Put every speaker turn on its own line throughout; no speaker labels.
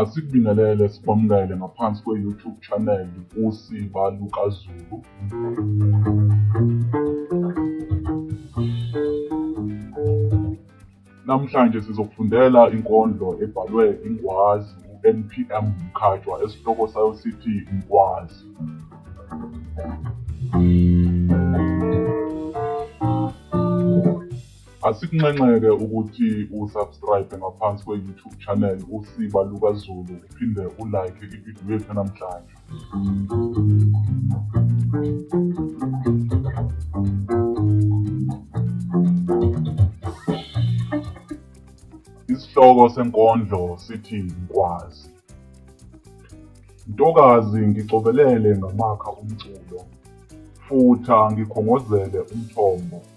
Asikubingelele sikwamukele ngaphansi kwe-YouTube channel uSiba LukaZulu. Namhlanje sizokufundela inkondlo ebhalwe ingwazi uNPM Mkhatshwa esihloko sayo sithi Ngwazi. Asikunxenxeke ukuthi u subscribe ngaphansi kwe YouTube channel uSiba Luka Zulu uphinde u like i video yethu namhlanje. Isihloko senkondlo sithi ngikwazi. Ntokazi ngicobelele ngamakha umculo, futha ngikhongozele umthombo.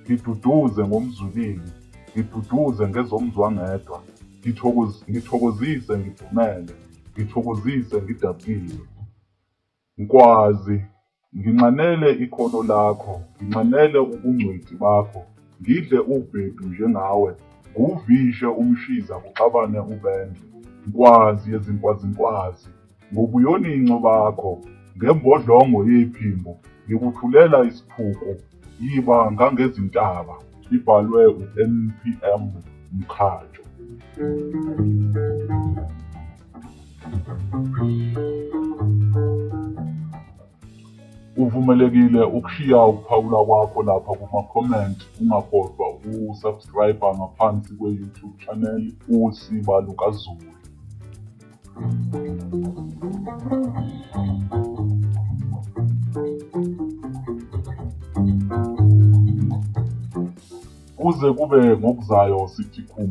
Ngiduduze ngomzwilili, ngiduduze ngezomzwangedwa, ngithokoz, ngithokozise ngidumele, ngithokozise ngidabukile. Nkwazi, nginxanele ikhono lakho, nginxanele ubungcweti bakho, ngidle ubhedu njengawe, nguvishe umshiza kuxabane ubende. Nkwazi yezinkwazinkwazi, ngobuyoninco bakho, ngembodlongo yephimbo ngikuthulela isiphuku, yiba ngangezintaba. Ibhalwe uNPM Mkhajo. Uvumelekile ukushiya ukuphawula kwakho lapha kuma-comment ungakhohlwa ukusubscribe ngaphansi kwe-YouTube channel uSiba LukaZulu. kuze kube ngokuzayo sithi khum